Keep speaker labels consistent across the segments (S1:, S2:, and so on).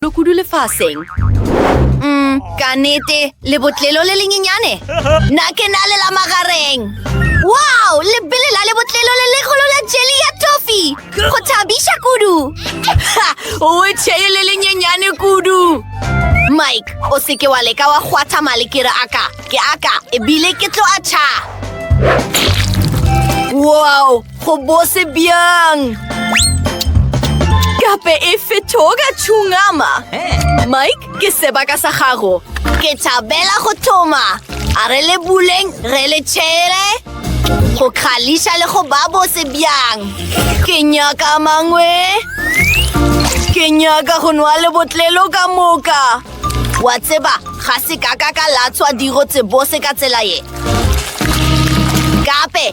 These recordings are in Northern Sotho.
S1: Lo kudu lefaseng. Mm, ka nete, lebotlelo le lenyenyane. Na ke na le la magareng. Wow, lebele la lebotlelo le legolo la jeli ya tofi. Go thabiša kudu. Ha, o e tšheye le lenyenyane kudu. Mike, o seke wa leka wa kgwatha male ke re aka, ke aka, ebile ke tlo a tšha. Wow, Go bose bjang? Gape e fetoga tšhungama. Mike, ke sebaka sa gago. Ke thabela go thoma. A re le buleng, re le tšhere. Go kgališa le go ba bose bjang. Ke nyaka mangwe. Ke nyaka go nwa le botlelo ka moka. Wa tseba, ga se ka ka ka latswa diro tsebose ka tsela ye. Gape,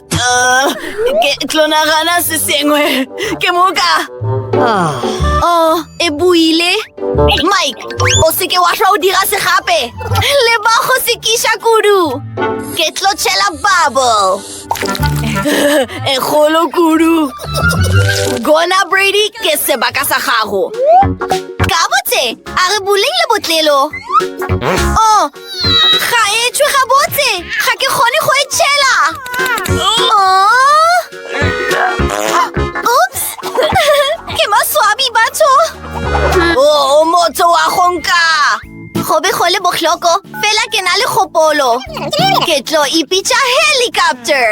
S1: Ah, ke tlo nagana se sengwe ke moka ah. oh e buile mike o seke wa tlwa o dira se gape le ba go se kiša kudu ke tlo tšhela bubble e kgolo kudu gona brady ke sebaka sa gago ka botse a re boleng le botlelo o oh, Ga e tšwe gabotse! Ga ke kgone go e tšhela! Oops! Ke maswabi batho! O oh, motho wa go nka! Go be go le bohloko, fela ke na le kgopolo. Ke tlo ipitša helicopter!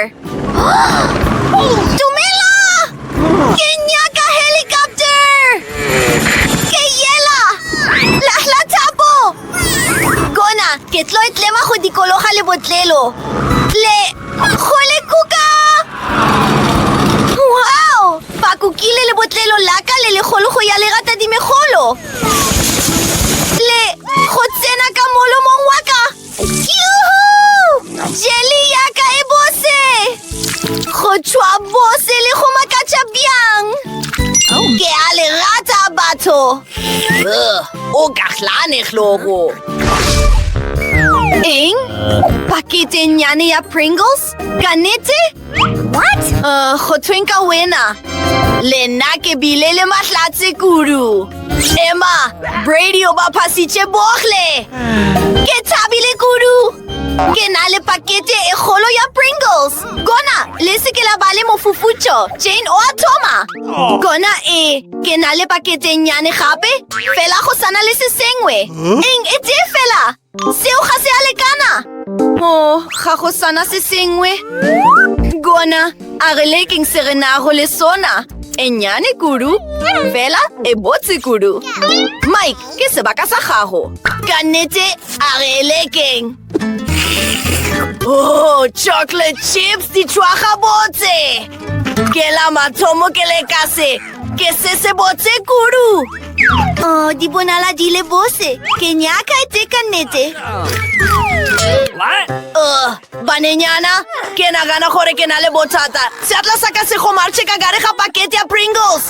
S1: Dumela! Ke nyaka helicopter! Ke yela! Lahla thapo! Gona ke tlo etlema go dikologa le botlelo. Le go le kuka! Wow! Ba kukile le botlelo la ka le legolo go ya lerata dimegolo. Le go tsena ka molomong wa ka. Yuhu! Jeli ya ka e bose! Go tšhwa bose le go makatša bjang! Ke a le rata batho! O ka hlane hlogo. Eng? Pakete nyane ya Pringles? Ka nete? What? Uh, go thweng ka wena. Le nna ke bile le mahlatse kudu. Emma, Brady o ba phasitše bohle. Ke thabile kudu. Ke na le pakete e kgolo ya Pringles. Gona, le se ke la ba le mofufutšo. Jane o a thoma. Gona e, ke na le pakete nnyane gape, fela go sana le se sengwe. Eng e tee fela? Seo ga se a lekana. Mo, ga go sana se sengwe. Gona, a re lekeng se re nago le sona. E nnyane kudu, fela e botse kudu. Mike, ke sebaka sa gago. Ka nnete, a re lekeng. Oh, chocolate chips di tšwa gabotse ke la mathomo ke le ka se ke se se botse kudu oh di bonala di le bose ke nyaka e teka nnete oh, banenyana ke nagana gore ke na le bothata seatla sa ka se gomarche ka gare ga pakete ya pringles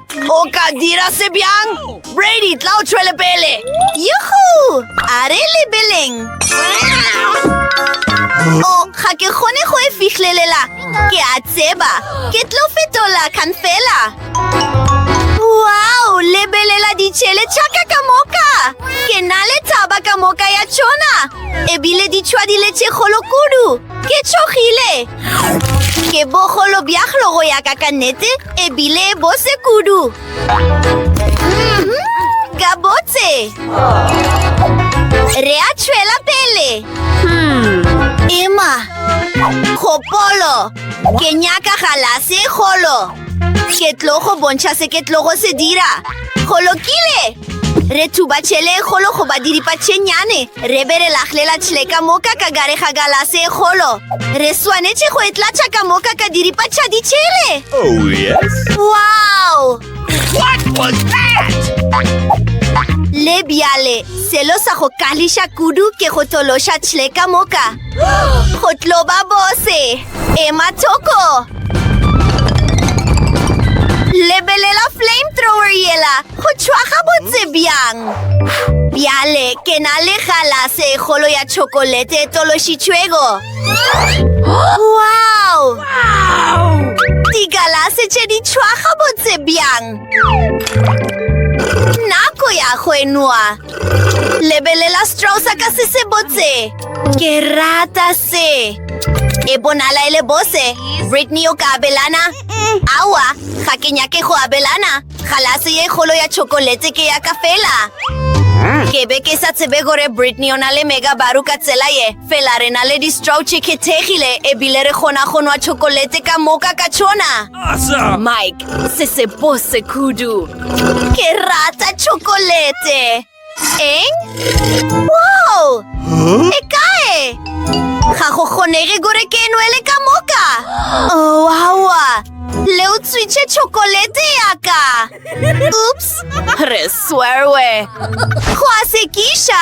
S1: O ka dira se bjang? Brady, tla o tšwele pele. Yuhu! A re lebeleng. O, ga ke kgone go e fihlelela. Ke a tseba. Ke tlo fetola kan fela. Wow, lebelela ditšhele tšaka ka moka. Ke na le taba ka moka ya tšona. Ebile ditšhwa di letše kgolo kudu. Ke tšhogile! Ke bogolo bja go ya ka ka nnete ebile bo se kudu. Ka botse! Re a tšhwela pele! Emma! Kgopolo! Ke nyaka galase e kgolo! Ke tlo go bontšha se ke tlo go se dira. Go lokile! Re thuba tšhele e kgolo go ba diripatšhenyane. Re be re laglela tšhele ka moka ka gare ga galase e kgolo. Re swanetše go e tlatša ka moka ka diripatšha ditšhele. Oh, yes.
S2: Wow!
S1: What
S2: was that?
S1: Le bjale, selo sa go kališa kudu ke go tološa tšhele ka moka. Go tlo ba bose. Ema thoko. Lebelela flamethrower yela go tšhwa ga botse bjang. Bjale ke na le galase e kgolo ya tšhokolete e tološitšwego. Wow! Digalase tše di tšhwa ga botse bjang. Nako ya go enwa. Lebelela straw sa ka se se botse. Ke rata se. E bonala e le bose. Brittany o ka abelana? Awa, ga ke nyake go abelana. Galase ye kgolo ya chokolete ke ya ka fela. Ke be ke sa tsebe gore Brittany o na le megabaru ka tsela ye. Fela re na le di-straw che khethegile ebile re kgona go nwa chokolete ka moka ka tšona. Asa! Mike,
S2: se
S1: se bose kudu. Ke rata chocolate. Eng? Wow! Huh? E kae? Ga go kgonege gore ke nwele ka moka. Oh, awa. Le o tswitše chocolate ya ka. Oops! Re swerwe. Go a sekiša.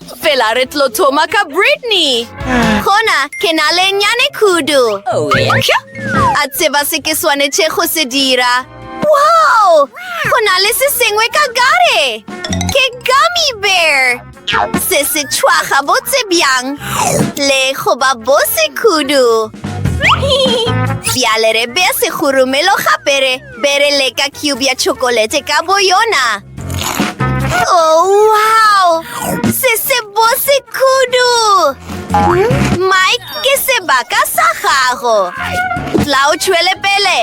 S1: Fela re tlo thoma ka Brittany. Gona ke na le nyane kudu.
S2: A
S1: tseba
S2: se ke
S1: swanetše go se dira. Wow! Go na le se sengwe ka gare. Ke gummy bear. Se se tšhwaga botse bjang. Le go ba bose kudu. Bjale re bea segoromelo ga bere. Bere leka cube ya chokolete ka boyona. Oh, wow! Se se bose kudu! Mike, ke sebaka sa gago. Tla o tšhwele pele.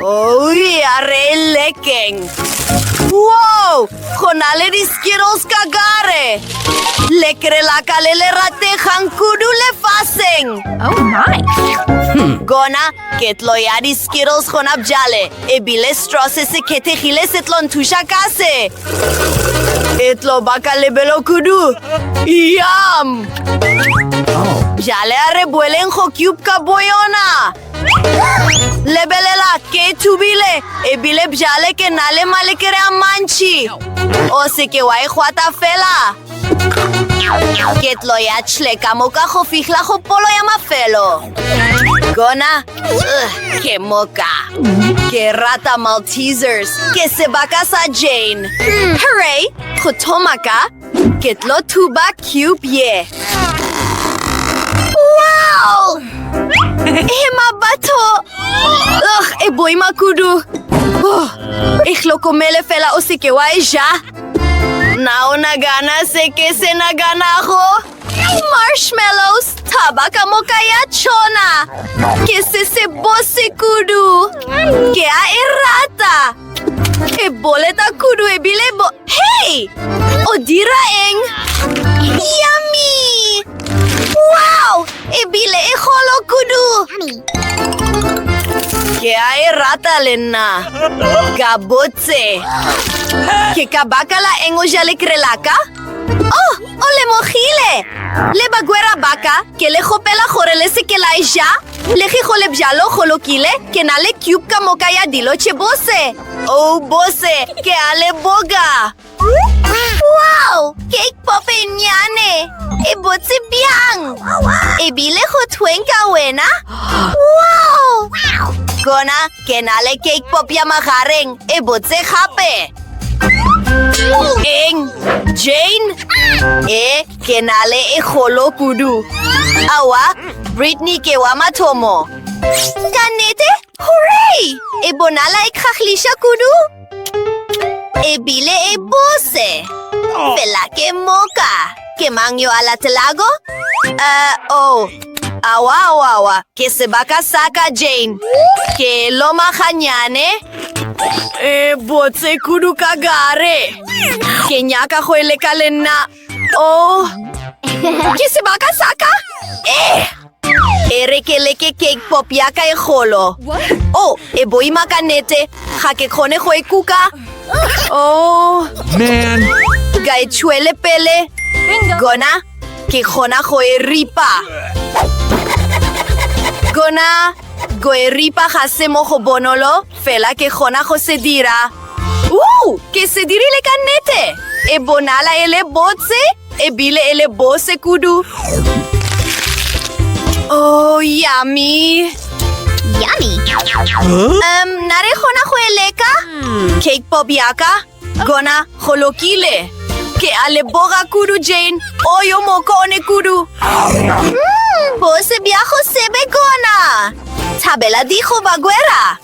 S1: Oh, ya re lekeng. Wow! Go na le di-skittles ka gare. Lekere la ka le le rategang kudu lefaseng. Oh, my!
S3: Gona,
S1: ketlo ya di-skittles gona bjale. E bile straw se se khethegile se tlo nthuša ka se. E tlo ba ka lebelo kudu. Yum! Bjale a re boeleng go cube ka boyona. Lebelela, ke thubile, e bile bjale ke na le malekere a mantši. O seke wa e gwata fela. Ke tlo ya tšhle ka moka go fihla go polo ya mafelo. Gona, uh, ke moka. Ke rata Maltesers. Ke sebaka sa Jane. Hmm, hooray! Go thoma ka, ke tlo thuba cube ye. Wow! Ema batho! Ugh, e boima kudu. Oh, e hlokomele fela o seke wa e ja. Na o nagana se ke se naganago? Marshmallows, thaba ka moka ya tšona. Ke se se bose kudu. Ke a e rata. E boleta kudu ebile bo... Hey! O dira eng? Yummy! Wow! E bile e golo kudu! Ke a e rata le nna. Ka botse. Ke ka baka la eng o ja lekre laka? Oh, o lemogile! Le bagwera baka, ke le gopela gore le seke la e ja. Le ge go le bjalo go lokile, ke na le cube ka moka ya dilo tše bose. Oh, bose, ke a le boga! Wow! Cake pop e nnyane! E botse bjang! E bile go thweng ka wena? Wow! Gona, ke na le cake pop ya magareng e botse gape! Eng? Jane? E, ke na le e golo kudu! Awa, Brittany ke wa mathomo! Ka nnete, Hooray! E bonala e kgahliša kudu. E bile e bose. Oh. Fela ke moka. Ke mang yo a latelago? Uh, oh. Awa, awa, awa. Ke sebaka sa ka, Jane. Ke loma ganyane. E botse kudu ka gare. Ke nyaka go e leka le nna. Oh, ke sebaka sa ka? Eh! E re ke leke cake pop ya ka e golo. Oh, e boima ka nete. Ga ke kgone go e kuka. Oh. Man.
S2: Ka e
S1: tšhwele pele. Gona, ke kgona go e ripa. Gona, go e ripa ga se mo go bonolo. Fela ke kgona go se dira. Woo! Ke se dirile ka nnete! E bonala e le botse, e bile e le bose kudu. Oh, yummy! Yummy! Huh? Um, na re kgona go e leka? Hmm. Cake pop yaka, Gona go lokile. Ke a le boga kudu, Jane. O yo mokone kudu. Mm, bose bja go sebe gona. Thabela digo bagwera.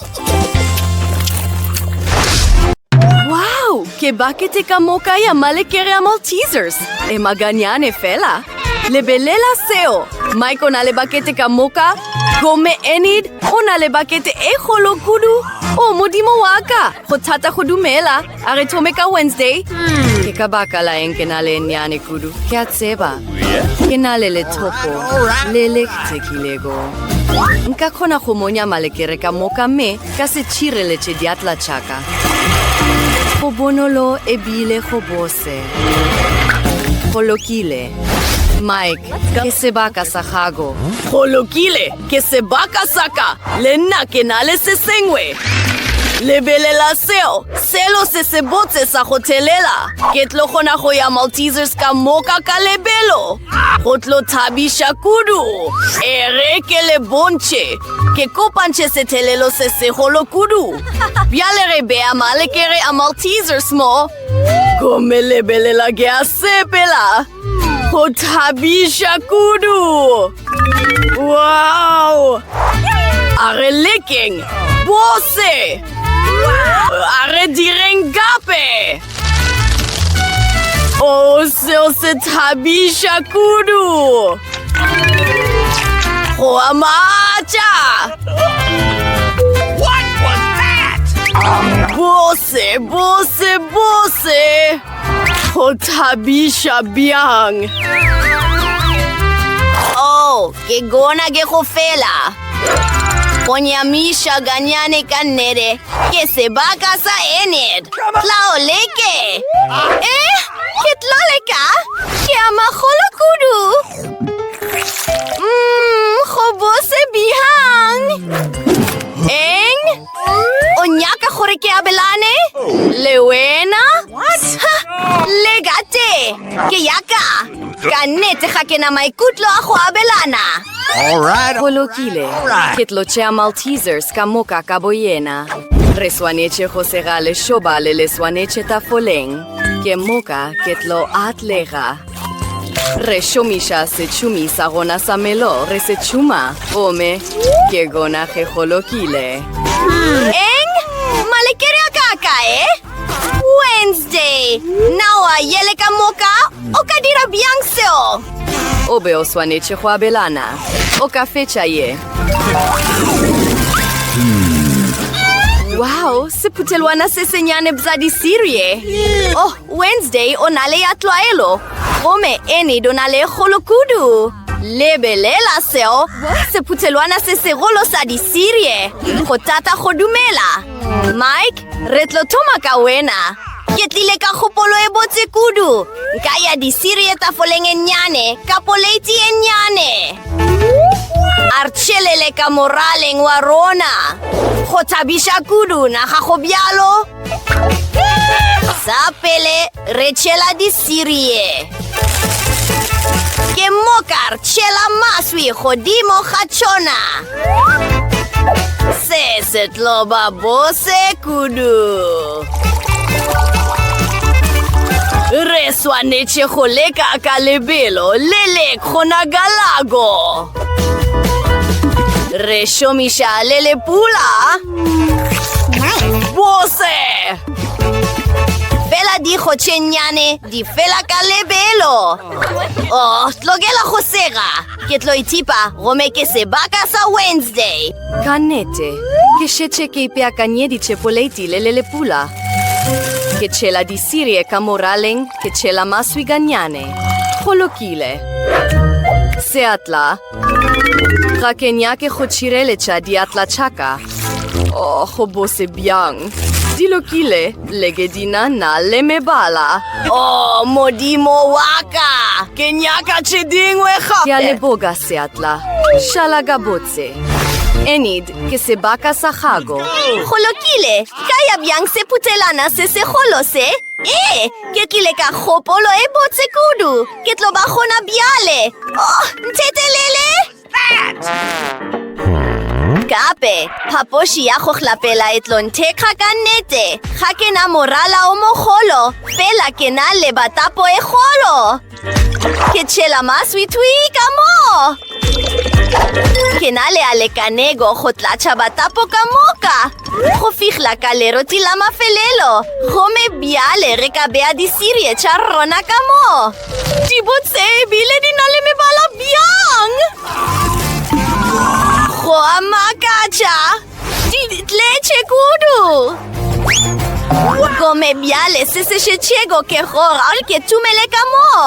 S1: Wow, ke bakete ka moka ya malekere ya Maltesers. E maganyane fela. Lebelela seo. Mike o na le bakete ka moka. Gomme Enid o na le bakete e golo kudu. O modimo wa ka. go thata go dumela a re thome ka wednesday hmm. ke ka baka la eng ke na le nyane kudu ke a tseba ke na le lethopo le le tsekilego nka kgona go monya malekere ka moka mme ka se tšhireletse diatla tšaka go bonolo ebile go bose go lokile mike ke sebaka sa gago go lokile Ke sebaka sa ka, le nna ke na le se sengwe. Lebelela seo, selo se se botse sa go thelela. Ke tlo kgona go ya Maltesers ka moka ka lebelo. Go tlo thabiša kudu. E re ke le bontšhe. Ke kopantšhe sethelelo se segolo kudu. Bjale re bea malekere a Maltesers mo. Gomme lebelela ke a sepela. Go thabiša kudu! Wow! A re lekeng bose! A re direng gape! O oh, seo se thabiša kudu! Go a matša!
S2: What was that? Bose,
S1: bose, bose! Go thabiša bjang! Oh, ke gona ke go fela. Go nyamiša ganyane ka nnete ke sebaka sa Enid. Tla o leke. Eh, ke tla leka. Ke a magolo kudu. Mmm, go bose bihang. Eng? O nyaka gore ke abelane le wena? Le gate, ke yaka. Ka nnete ga ke na maikutlo a go abelana.
S2: Go lokile,
S1: ke tlo tšea Maltesers ka moka ka boyena. Re swanetše go sega lešobale le swanetše tafoleng. Ke moka ke tlo atlega. re šomiša setšhumi sa gona sa melo re se tšhuma gomme ke gona ge go lokile eng malekere a ka kae wednesday nawa yele ka moka o ka dira bjang seo o be o swanetše go abelana o ka fetša ye wow sephutelwana se senyane bza disirie oh Wednesday o na le ya tlwaelo, gomme Enid o na le e kgolo kudu. Lebelela seo, sephuthelwana se segolo sa disirie. Go tata go dumela. Mike, re tlo thoma ka wena. Ke tlile ka kgopolo e botse kudu. Nka ya disirie tafoleng e nnyane, ka poleiti e nnyane. A re tšhelele ka moraleng wa rona. Go thabiša kudu, naga go bjalo? Sa pele re tšhela disirie. Ke mokar tšhela maswi godimo ga tšona. Se se tlo ba bose kudu. Re swanetše go leka ka lebelo le le kgonagalago. Re šomiša le lepula.
S2: bose
S1: fela dikgotšhennyane di fela ka lebelo o oh, tlokela go sega ke tlo ithipa gome ke sebaka sa wednesday ka nnete
S3: ke šetše ke ipeakanyeditše poleiti le le lepula ke tšhela disirie ka moraleng ke tšhela maswi ganyane go lokile seatla Ga ke nyake go tšhireletša diatla tšaka. O, oh, go bose bjang. Di lokile, leke di na na le mebala. O, oh,
S1: modimo wa ka! Ke nyaka tše dingwe gape! Ke a leboga,
S3: seatla. Šala ka botse. Enid, ke sebaka sa gago. Go lokile,
S1: ka ya bjang seputselana se segolo se? Ee, ke tlile ka kgopolo e botse kudu. Ke tlo ba gona bjale. Oh, nthetelele! Gape, phapoši ya go hlapela e tlo nthekga ka nnete. Ga ke na morala o mogolo, fela ke na le batapo e golo. Ke tšhela maswitwi ka moo. Ke na le a lekanego go tlatša batapo ka moka go fihla ka leroti la mafelelo gomme bjale re ka bea disirie tša rona ka moo di botse ebile di na le mebala bjang go a makatša di tletše kudu gomme bjale se se šetšego ke gore ke tumele ka moo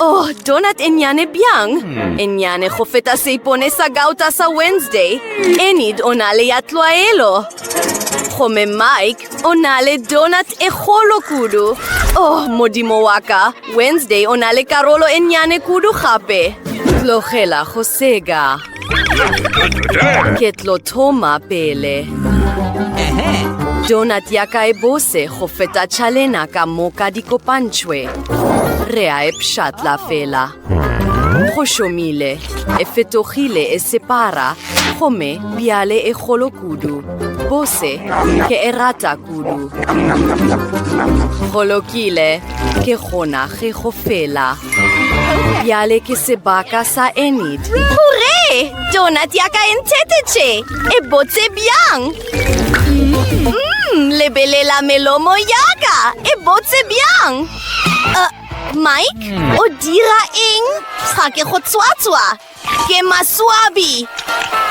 S1: Oh,
S3: donut e nnyane bjang. Hmm. E nnyane go feta seipone sa gauta sa Wednesday. Enid o na le ya tlwaelo. Gomme Mike o na le donut e kgolo kudu. Oh, modimo wa ka. Wednesday o na le karolo e nnyane kudu gape. Tlogela go sega. Ke tlo thoma pele. Donut ya ka e bose go feta tšhalena ka moka di kopantšhwe. Re a e pšhatla fela. Go šomile, e fetogile e separa, gomme bjale e kgolo kudu. Bose, ke e rata kudu. Go lokile. Ke gona ge go fela. Bjale ke sebaka sa Enid. Hurre!
S1: Donut ya ka e nthetetše! E botse bjang! Mmm, lebelela melomo ya ka! E botse bjang! Uh, Mike, o dira eng? Ga ke go tswatswa! Ke maswabi!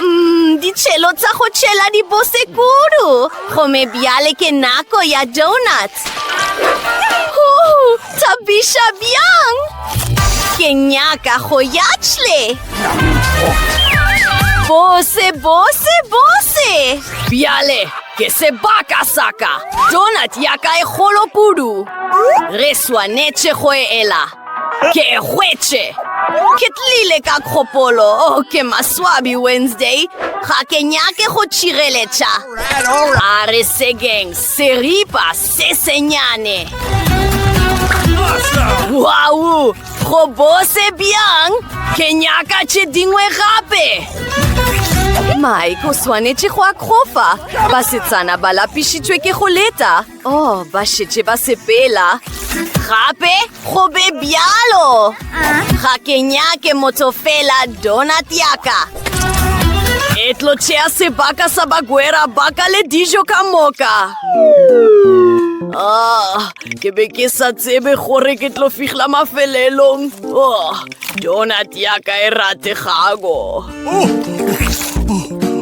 S1: Mm, ditšhelo tsa go tšhela di bose kudu! Gome bjale ke nako ya donuts! Huu, thabiša bjang! Ke nyaka go ya tšhle! Bose, bose, bose! Bjale,
S3: ke sebaka saka! Donut ya ka e golo kudu! Re swanetše go e ela! Ke hwetše! Ke tlile
S1: ka kgopolo, oh, ke maswabi Wednesday. Ga ke nyake go tšireletša. A
S2: re sekeng
S3: seripa se senyane.
S1: Wow! Go bose bjang? Ke nyaka tše dingwe gape!
S3: Mike o swanetše go akgofa. Basetsana ba lapišitšwe ke go leta. Oh, ba šetše ba sepela. Gape
S1: go be bjalo. Ga ke nyake motho fela donut yaka.
S3: E tlo tšea sebaka sa bagwera ba ka le dijo ka moka. Ah, ke be ke sa tsebe gore ke tlo fihla mafelelong. Oh. Donut ya ka e rategago.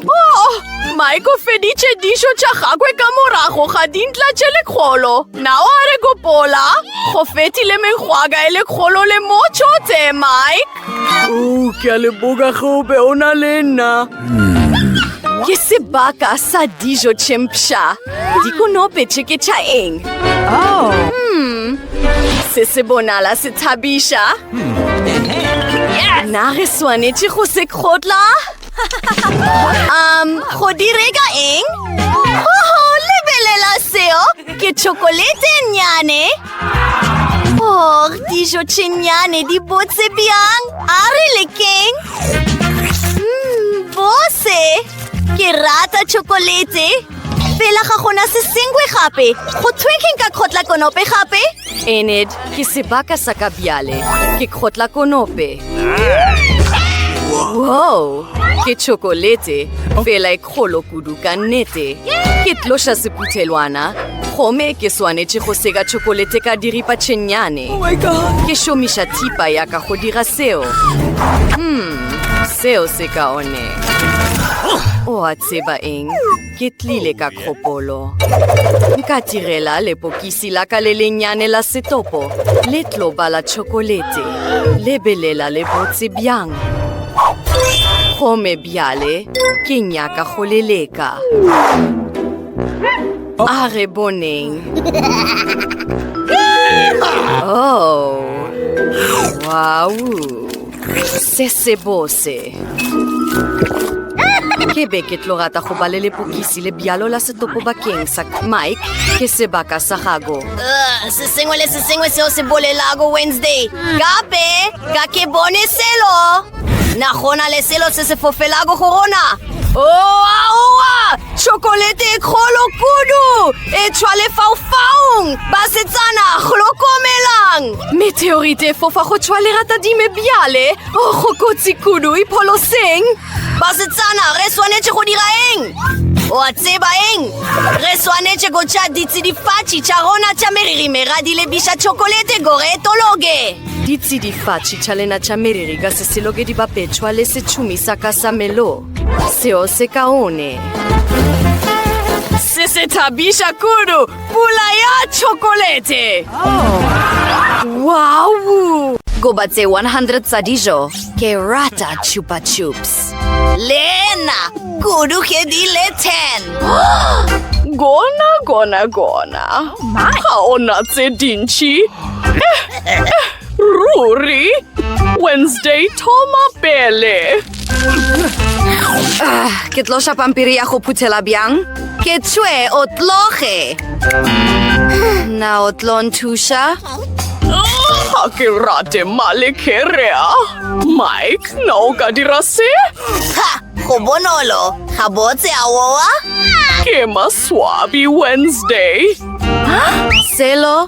S3: Oh, Mike o feditše dišo tša gagwe ka morago ga dintla tše lekgolo. Nao a re gopola, go fetile mengwaga e lekgolo le motšo tse, Mike. Oh, ke a leboga gobe o na le nna. Ke sebaka sa dijo tše mpsha. Dikonope tše ke tša eng? Oh. Hmm. Se se bonala se thabiša. Hmm. Na re swanetše go se kgotla?
S1: um, go
S3: direga eng?
S1: Oho, lebelela seo! Ke chokolete nyane! Oh, dijo tše nyane di botse bjang! A re lekeng! Mmm, bose! Ke rata chokolete! fela ga gona se sengwe gape go thwe ke nka kgotla konope gape ened
S3: ke sebaka sa ka bjale ke kgotla konope wow ke chokolete fela e kgolo kudu ka nnete ke tloša sephuthelwana gomme ke swanetše go seka chokolete ka diripa tšhennyane oh ke šomiša thipa ya ka go dira seo hmm seo se kaone o a tseba eng Ke tlile ka kgopolo. Nka tirela lepokisi la ka le lennyane la setopo le tlo bala tšhokolete. Lebelela le botse bjang. Gome bjale ke nyaka go le leka. A re boneng. Oh, wow. se sebose ke be ke tlo rata go ba le lepokisi le bjalo la setopo bakeng sa mike ke sebaka sa gago uh, se sengwe
S1: le se sengwe seo se bolelago wednesday gape ka ke bone selo na gona le selo se se fofelago go rona oaoa tšhokolete e kgolo kudu e tshwa lefaufaung basetsana golokomelang Meteorite
S3: e fofa go tšwa leratadime bjale o go kotsi kudu e pholoseng basetsana
S1: re swanetše go dira eng wa tseba eng re swanetše go tša ditsidifatši tša rona tša meriri mera di lebiša tšhokolete gore e tologe ditsidifatši
S3: tša lena tša meriri ka seseloke di bapetšwa le setšhumi sa ka sa melo seo se kaone se se thabiša kudu Pula ya chokolete. Oh. Wow! Goba tse 100 tsa dijo. Ke rata chupa chups. Lena,
S1: kudu ke di le 10. Gona, gona,
S3: gona. Oh, my. Ha ona tse dinchi. Eh, eh. Ruri! Wednesday, thoma pele! Ah, ke tlo sha pampiri ya go phuthela bjang? Ke tšhwe
S1: o tloge!
S3: Na o tlo nthuša?
S4: Ga ke rate malekerea. Mike, na o ka dira se? Ha!
S1: Go bonolo! Ga botse a wowa? Ke
S4: maswabi Wednesday.
S3: Selo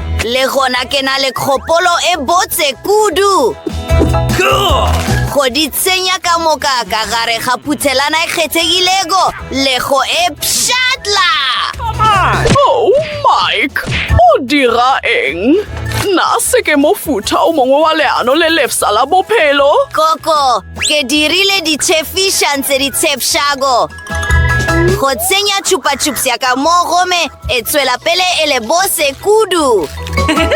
S1: Le gona ke na le kgopolo e botse kudu go di tsenya ka moka ka gare ga phuthelana e kgethegilego le go e pšhatla
S4: Oh, Mike, o dira eng? Na se ke mofuta o mongwe wa leano le lefsa la bophelo? koko
S1: ke dirile ditšhefišang tse di tshepšago Go tsenya chupa-chups ya ka mo gome e tswela pele e le bose kudu.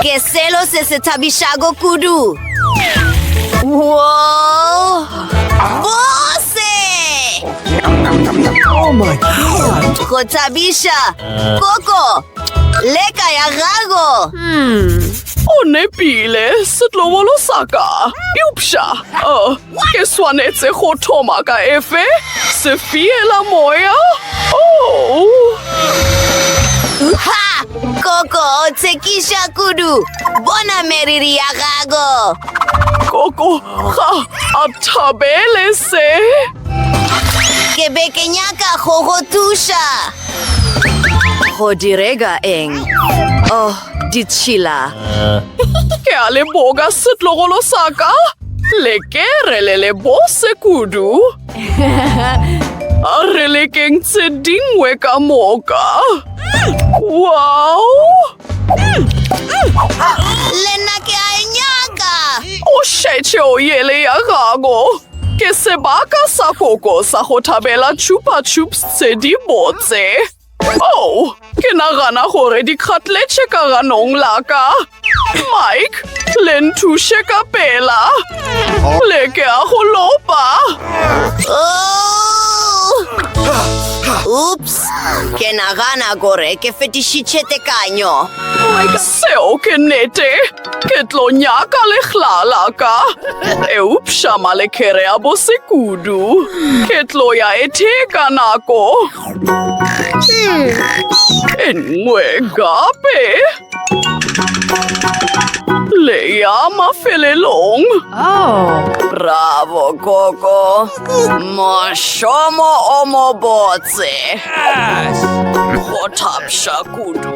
S1: Ke selo se se thabishago kudu. Whoa! Bose!
S2: Oh my god! Go thabisha!
S1: Koko! Leka ya gago! Hmm.
S4: O nepile, setlovolo sa ka. Eupša, uh, Ke swanetse go thoma ka efe? Sefiela moya? Oh!
S1: Ha! Koko, o tshekisha kudu. Bona meriri ya gago. Koko,
S4: ga a thabele se.
S1: Ke be ke nyaka go go thuša.
S3: Go direga eng? Oh, ditšhila.
S4: Ke a leboga setlogolo sa ka. Lekere le le bose kudu. A re lekeng tse dingwe ka moka. Wow!
S1: Le nna ke a e nyaka. O šetše
S4: o yele ya gago. Ke sebaka sa koko sa go thabela chupa chups tse di botse. Oh, ke nagana gore di kgatletše ka ganong la ka. Mike, le nthuše ka pela. Le ke a go lopa.
S1: Oops, ke nagana gore ke fetišitše tekanyo. Seo
S4: ke nnete. Ke tlo nyaka legla la ka. Eupša malekere a bose kudu. Ke tlo ya ethe ka nako. e nngwe gape le ya mafelelong oh.
S1: bravo koko mošomo o mobotse
S4: go thapša kudu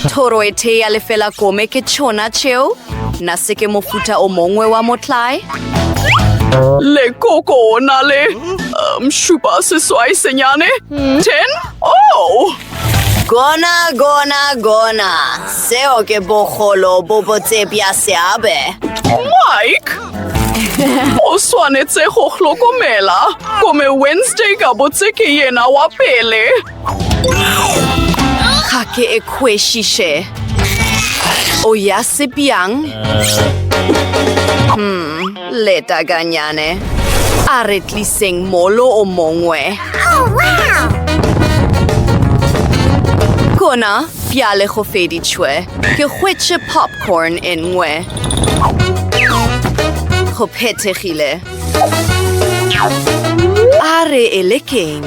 S1: Thoro e thea lefela kome ke tšhona tšeo, na se ke mofuta o mongwe wa motlae?
S4: Lekoko o na le um, šupa seswai senyane? Hmm? Ten? Oh! Gona, gona,
S1: gona. Seo ke bogolo bo botse bja seabe.
S4: Mike! o swanetse go hlokomela kome wednesday ka botse ke yena wa pele
S1: Ga ke e kwešiše. O ya sepjang? Hmm, leta ganyane. A re tliseng molo o mongwe. Oh, wow! Kona, bjale go feditšwe. Ke hwetše popcorn e nngwe. Go phethegile. A re e le keng?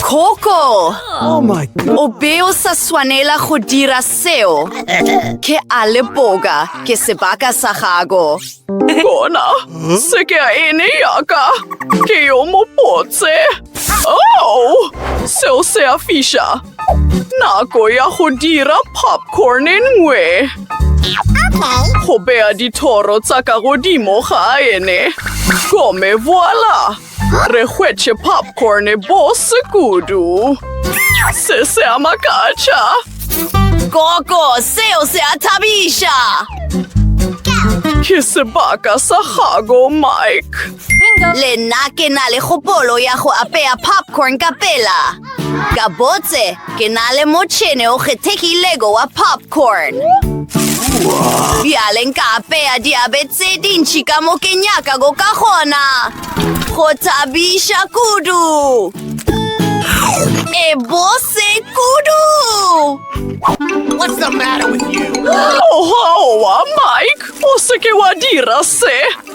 S1: Coco! Oh my God.
S2: O be o sa
S1: swanela go dira seo. Ke a lepoka, ke sebaka sa gago. Bona,
S4: se ke a ene yaka. Ke yo mopotse. Oh! Seo se a fiša. Nako ya go dira popcorn e nngwe. Go beya dithoro tsa ka godimo ga ene. Gome voila! Re hwetše popcorn e bose kudu. Se se a makatša.
S1: Koko, seo se a thabiša!
S4: Ke sebaka sa gago, Mike. Le nna
S1: ke na le kgopolo ya go apea popcorn ka pela. Gabotse, ke na le motšhene o kgethegilego wa popcorn. Bjale nka apea diabe tse dintši ka mo ke nyakago ka gona. Go thabiša kudu! E bose kudu!
S2: Ohoa,
S4: Mike! O se ke wa dira se!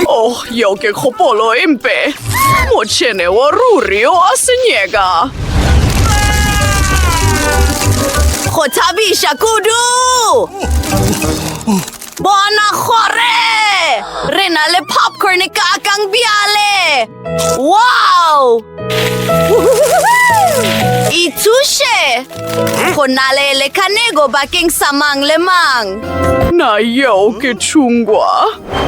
S4: Oh, yeo ke kgopolo e mpe. Motšhene wa ruri o a senyeka.
S1: Go thabiša kudu! Bona gore re na le popcorn e kakang bjale! Wow! Ithuše! Go na le lekanego bakeng sa mang le mang. Na
S4: yeo ke tšhungwa?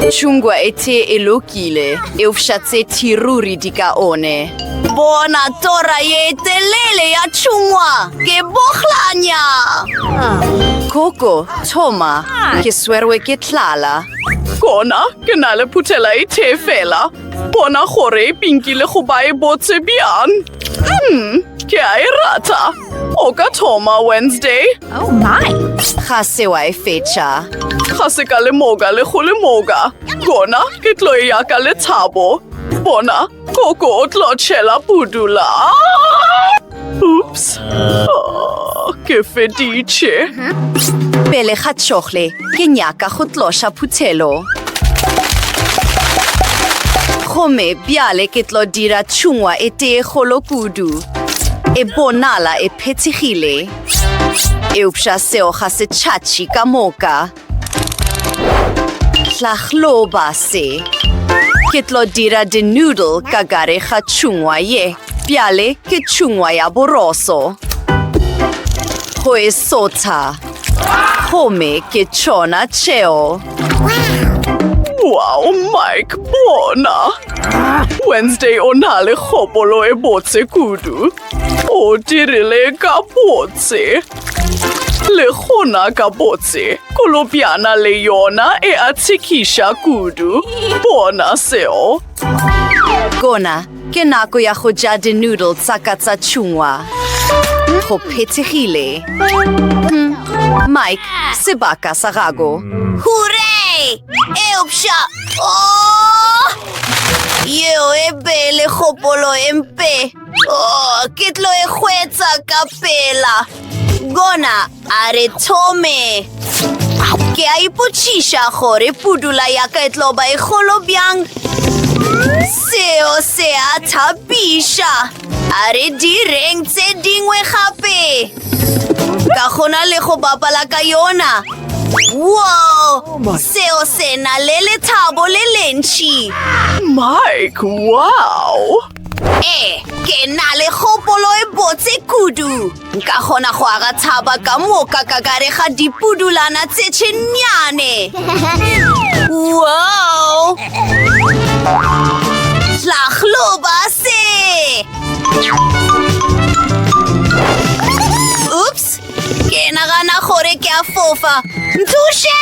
S4: Tšhungwa e
S1: tee e lokile, eufša tse thiruri di ka one. Bona tora ye telele ya tšhungwa, ke bohlanya! Koko, thoma, ke swerwe ke tlala. Kona,
S4: ke na le phuthela e tee fela. Bona gore e pinki le go ba e botse bjang. Hmm, ke a e rata. O ka thoma Wednesday. Oh my!
S1: Ga se wa e fetša. Ga se ka
S4: lemoka le go lemoka. Gona ke tlo e yaka le thabo. Bona, koko o tlo tšhela pudula. Oops. Oh, ke feditše.
S1: Pele ga tšohle, ke nyaka go tloša phuthelo. Gomme bjale ke tlo dira tšhungwa e tee golo kudu. E bonala e phethegile. Eupša seo ga se tšhatši ka moka. Hlahloba se. Ke tlo dira di-noodle ka gare ga tšhungwa ye. Bjale ke tšhungwa ya boroso. Go e sotha. Gomme ke tšona tšeo. Wow,
S4: Mike, bona! Wednesday o na le kgopolo e botse kudu. O dirile ka botse. Le gona ka botse, kolobjana le yona e a tshekiša kudu. Bona seo. Gona
S1: ke nako ya go ja di-noodle tsa ka tsa tšhungwa. Go phethegile. Hmm, Mike, sebaka sa gago. Hure! Eupša! Oh! Yeo e bele kgopolo e mpe. Oh, ke tlo e hwetsa ka pela. Gona a re thome. Ke a ipotšiša gore pudula ya ka e tlo ba e kgolo bjang. Seo se a thapiša. A re direng tse dingwe gape. Ka gona le go bapala ka yona. Whoa! Oh Seo se na le lethabo le lentši. Mike,
S4: wow! Ee,
S1: ke na le kgopolo e botse kudu. Nka kgona go aga tshaba ka moka ka kare ga dipudulana tse tšhenyane. Wow! Tlagloba se! Ups! Ke nagana gore ke a fofa. Nthushe!